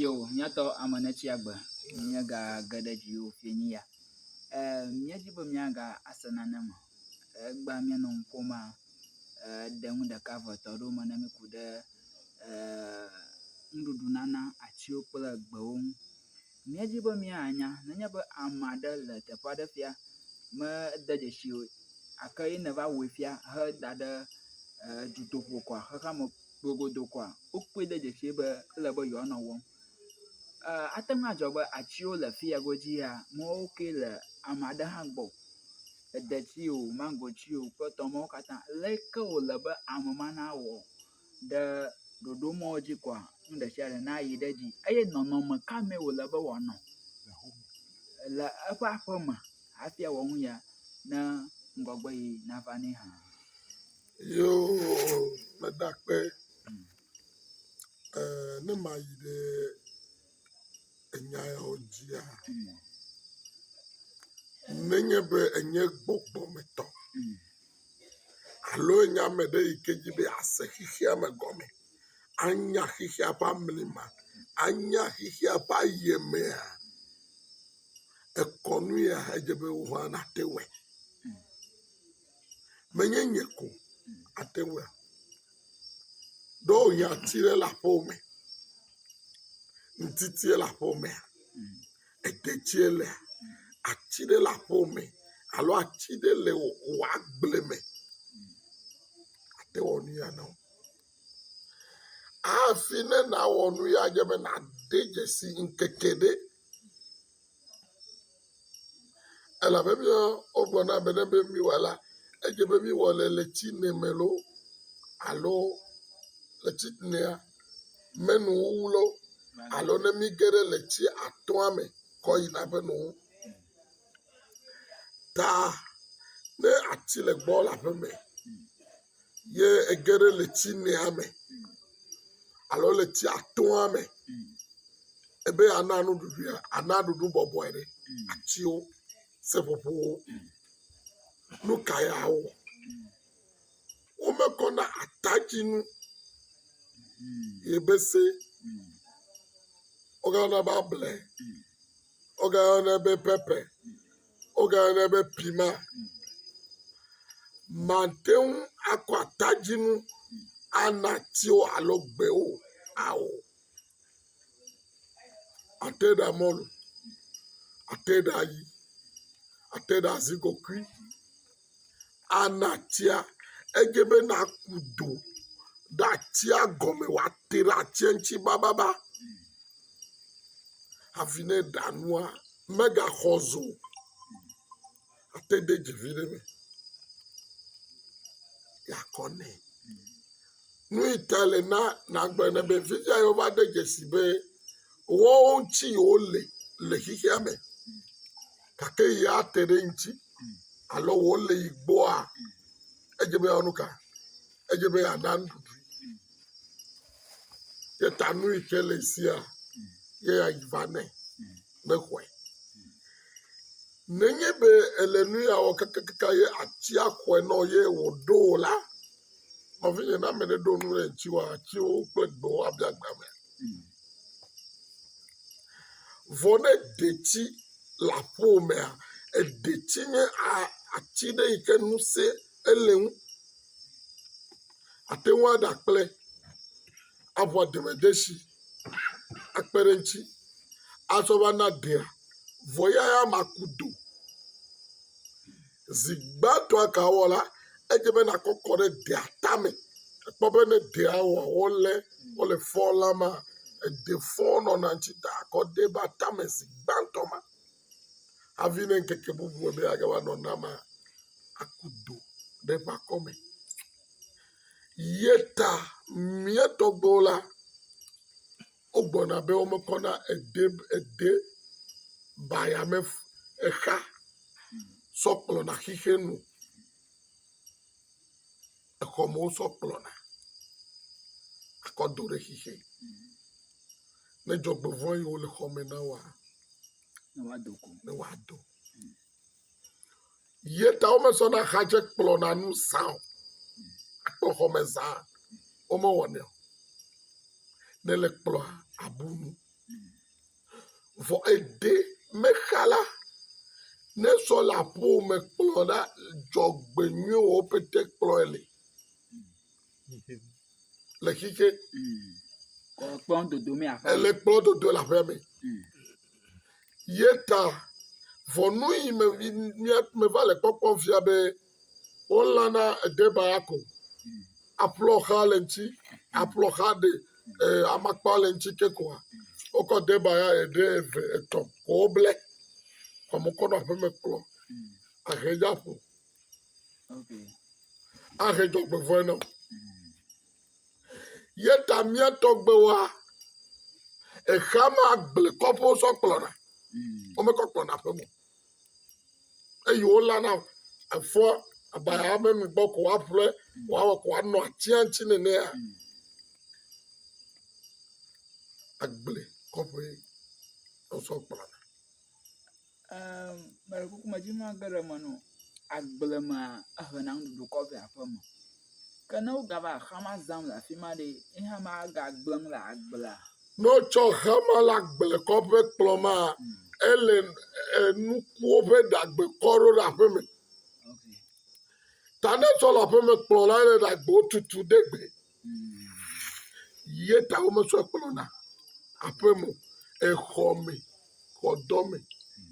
Yo, míatɔ ame netsi agbe, míega ge ɖe dzi o fie nyi ya. E, míedzi be míaga ase nane me. Egba míanɔ nu ƒom a, e, ɖe nu ɖeka ve etɔ̃ ɖewo me ne míku ɖe, e, nuɖuɖu nana atsiwo kple gbewo ŋu. Míedi be míanya nenye be ame aɖe le teƒe aɖe fia mede dzesi o gake ye nèva wɔe fia heda ɖe dutoƒo koa, xexea me gogodo koa, wokpɔe de dzesi be ele be yewoanɔ wɔm. Ate ŋu adzɔ be atiwo le afi ya godzi ya mawo kee le ame aɖe hã gbɔ, edeti o, maŋgoti o kple etɔwo katã. Leke wòle be ame ma nawɔ ɖe ɖoɖo mɔ dzi koa, nu ɖe sia ɖe nayi ɖe edzi. Eye nɔnɔme ka mee wòle be wòanɔ le eƒe aƒeme hafi awɔ nu ya ne ŋgɔgbeɣi nava nɛ hã? Yoo, meda akpe ɛɛ ne mayi ɖe. enya yawo dzia, nenye be enye gbɔgbɔ me tɔ alo enye ame ɖe yi ke dzi be yease xexea me gɔme, anya xexea ƒe amlima, anya xexea ƒe ayemea, ekɔnu ya edze be woŋua nate wɔe. menye nye ko ate ŋua, ɖo hiãti ɖe le aƒe me, ŋtiti ɖe le aƒe me, edetsi ɖe lea, ati ɖe le aƒe me alo ati ɖe le wò agble me, ate wɔ nu ya na wò. Hafi ne nawɔ nu ya dze be nade dzesi ŋkeke ɖe. Elabe míawo wogblɔ na be ne be míewɔ la, edze be míewɔ le le tsine me loo alo le tsinea menu wuwu lɔ alo ne míge ɖe le tsi atɔ̃a me kɔ yina ƒe nu wu. Ta ne ati le gbɔ le aƒeme. ye ege ɖe le tsi mea me alo le tsia toa me. Ebe yeana nuɖuɖuia, ana ɖuɖu bɔbɔe ɖe. Atiwo, seƒoƒowo, nu ka ye awɔ? Womekɔ na atadzinu ye be se wogayɔna be able Wogayɔnɛ be pɛpɛ, wogayɔnɛ be pima. Màte ŋu akɔ atadzinu ana atiwo alo gbewo ao. Àte ɖa mɔlu, àte ɖa ayi, àte ɖa azikokui. anatia edze be naku do ɖe atia gɔme woate ɖe atia ŋti bababa hafi ne eɖa nua megaxɔ zu o ate de dzi vi ɖe me yakɔ nɛ nuyita le na nagblɔe nɛ be fifia yi wova de dzesi be woawo ŋti yi wole le xexeame gake yi ate ɖe eŋuti alo wole yi gbɔa, edze be yeawɔ nu ka? Edze be yeana nuɖuɖui. Ye ta nu yi ke le sia ye yeayi va nɛ ne xɔe. Nenye be ele nu ya wɔ kakakaka ye atia xɔe nɔ ye wòɖo o la, nɔvinye, ne ame ɖe ɖo nu ɖe ŋuti woa, atiwo kple gbewo abia gbe ame. Vɔ ne detsi le aƒe wò mea, detsi nye ati ɖe yike ŋusẽ ele eŋu. Ate ŋu aɖe akple aŋɔ deme desi akpe ɖe eŋuti azɔ va na ɖea vɔ eya ya ma ku do. Zi gbãtɔ egawɔ la, edze be nàkɔ kɔ ɖe dea tame. Èkpɔ be ne dea wɔ wolé wole fɔ la mea, ede fɔ nɔna ŋuti ta kɔ dee va tame zi gbãtɔ ma. Hafi ne ŋkeke bubu me be yeage va nɔ na mea, aku do ɖe eƒe akɔme. Ye ta mía tɔgbuiwo la, Wogbɔna be womekɔ na ede ede baya me exa sɔ kplɔna xixe nu. Exɔ me wosɔ kplɔna akɔ do ɖe xixe. Ne dzɔgbevɔ̃ yiwo le xɔ me na woa, ne woado go. Ne woado. Ye ta womezɔna xadze kplɔna nu zã o. Akpɔ xɔme zã womewɔnɛ o. Ne le kplɔa abu nu. Vɔ eɖe mexa la ne sɔ le aƒewo me kplɔ la dzɔgbenyuiwo pete kplɔe li. Le xixe. Kplɔ dodo me aƒe. Ele kplɔ dodo le aƒea me. Ye ta vɔnu yi me meva le kpɔkpɔ fia be wolana edeba ko. Aƒlɔ xa le ŋuti. Aƒlɔ xa ɖe eh, amakpa le ŋuti ke koa. Wokɔ deba ya eɖe eve etɔ̃ ko woble. Kɔmɔkɔ nɔ aƒeme kplɔ. Ahe ya ƒo. ahe dzɔgbevɔe na wo ye ta mía tɔgbewoa exea ma gble kɔƒe wosɔ kplɔna womekɔ kplɔna aƒe me o. eye wolana efɔ abaya me nu gbɔ ko woaƒle woawɔ ko woanɔ atia ŋuti nenea agble kɔƒe wosɔ kplɔna Mele kuku me dim mage ɖe eme nɔ agble mea, ehe na nuɖuɖu kɔ vɛ aƒe me. Ke ne wogava xama zam le afi ma ɖe, ye hã magagblẽ le agblea? Ne wotsɔ xama le agble kɔ ƒe kplɔ mea, ele nukuwo ƒe ɖagbe kɔ ɖo ɖe aƒe me. Ta ne tsɔ le aƒe me kplɔ la, ele ɖagbewo tutu ɖe gbe. Ye ta wometsɔe kplɔna aƒe me o, exɔ me, xɔdɔ me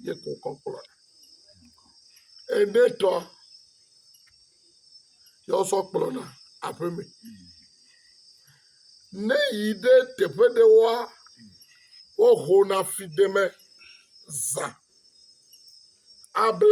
ye ko wokɔ kplɔna. Ene tɔ ye wosɔ kplɔna aƒe me. Ne yi ɖe teƒe ɖe woa, wohona fideme zã able.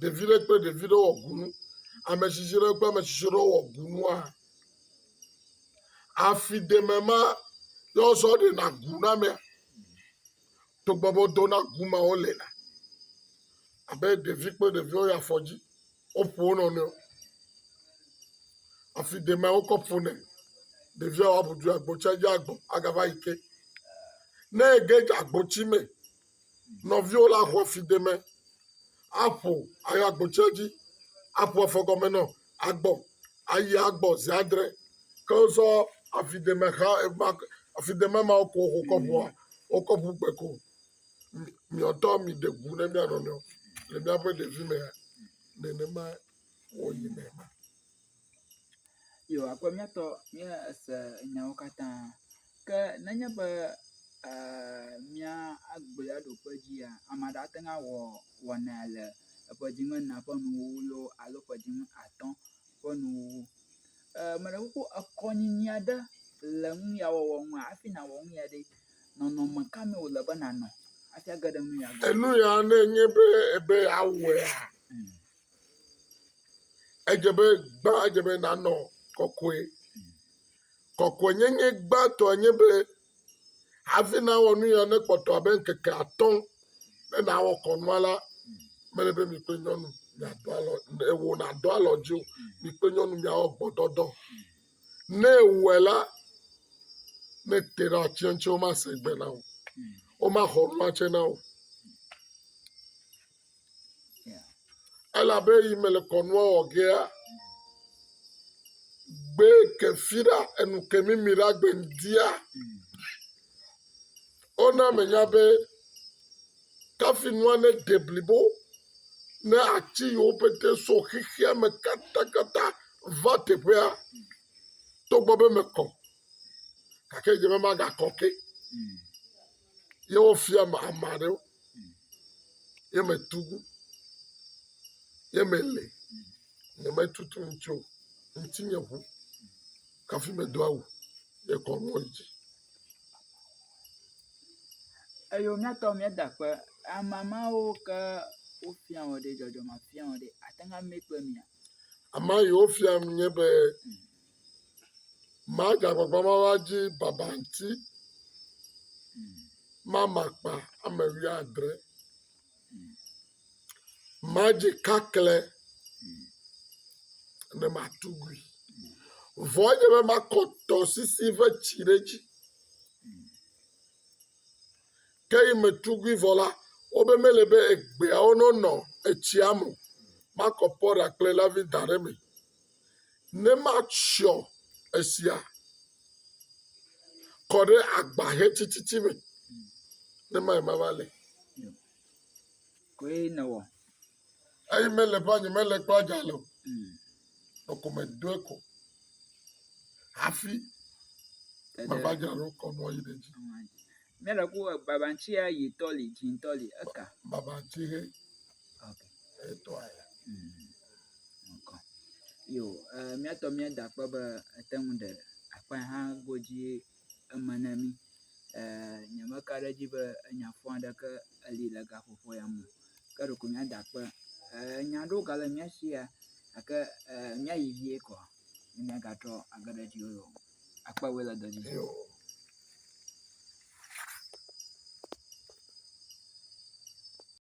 Ɖevi ɖe kple ɖevi ɖe wɔ kunu. Ame tsitsi ɖe kple ame tsitsi ɖe wɔ kunua. Afi ɖeme ma ye wozɔ ɖena ku na amea. Togbɔ be wodo na ku ma wole la abe ɖevi kple ɖevi woyi afɔdzi woƒo wo nɔnɔewo. Afi ɖemea wokɔ ƒonɛ. Ɖevia woabu dui agbotsa dzi agbɔ agava yi ke. Ne ege dze agbotsi me Nɔviwo la xɔ fideme aƒo ayi agbotsɛ dzi aƒo afɔgɔme nɔ agbɔ ayi agbɔ zi adre ke wozɔ afideme xa ema afideme ma ko xɔ kɔƒoa wokɔ ƒu gbe ko miɔtɔ mi ɖe gu ne mia nɔnɔewo le miaƒe ɖevi mea nenema wɔyi me ma Yo, akpɔ míatɔ míese nyawo katã. Ke nenye be ee mía agblea ɖokpe dzia, ame aɖe ate ŋu awɔ wɔna le eƒe dzi ŋena ƒe nuwuwu loo alo ƒe dzi ŋu atɔ ƒe nuwuwu. E, meɖe kuku ekɔnyinyi aɖe le nu ya wɔwɔ ŋu hafi nàwɔ nu ya ɖe, nɔnɔme ka me wòle be nànɔ hafi age ɖe nu ya gbɔ? Enu ya ne nye be ebe awɔea, Edze be gbã edze be nànɔ kɔkɔe. Kɔkɔenyenye gbãtɔ enye be hafi nawɔ nu ya nekpɔtɔ abe ŋkeke atɔ̃ be nawɔ kɔnua la, mele be mi kple nyɔnu miado alɔ ne wò nàdo alɔ dzi o. Mi kple nyɔnu miawɔ gbɔdɔdɔ. Ne ewɔe la, ne ete ɖe atsia ŋuti womase gbe na wò o. Womaxɔ nua tsɛ na wò o. Elabe yi mele kɔnua wɔ gea, gbe ke fira enu ke mimi la gbe dia. Ona menya be kafi nua ne de blibo ne ati yiwo pete so xexea me katakata va teƒea togbɔ be mekɔ gake dze be magakɔ ke. ye wofia ame ame aɖewo ye metu gu ye mele nyemetutu ŋuti o ŋuti nye ʋu kafi medo awu ye kɔ mɔ yi dzi eyo miatɔ miada ƒe ame mawo ke wofia wɔ ɖe dzɔdzɔme afia wɔ ɖe ate ŋu ame kpe mia ama yi wofia nu nye be Magbagba mava dzi baba ŋuti mama akpa ame wuiadre. Madzi kakle ne matu gui. Vɔ edze be makɔ tɔsisi ƒe tsi ɖe edzi. Ke yi metu gui vɔ la, wobe mele be egbeawo nonɔ etsia me o. Makɔ pɔɖa kple lavi da ɖe eme. Ne matsyɔ esia kɔ ɖe agba hetititi me, ne mae mava le. Koe nèwɔ. Eyi mele ƒa nyemele kple adzalɛ o. Nɔko medoe ko hafi mava dzra ɖo kɔ mɔ yi ɖe dzi. Míele ku e baba ŋtsi ya yi tɔ li dzi ŋtɔ li eka. Baba ŋtsi he. Ok. E tɔ aya. Ŋkɔ. Yo e mía tɔ mía da kpɔ be ete ŋu ɖe akpa hã godzi eme ne mí. E nye me ka ɖe dzi be enya fɔ aɖeke eli le gaƒoƒo ya me. Ke ɖeko mía da kpe e nya ɖewo ga le mía shi ya gake e mía yi vie kɔ. Mía ga trɔ age ɖe dzi o. Akpa wòe le dɔ dzi.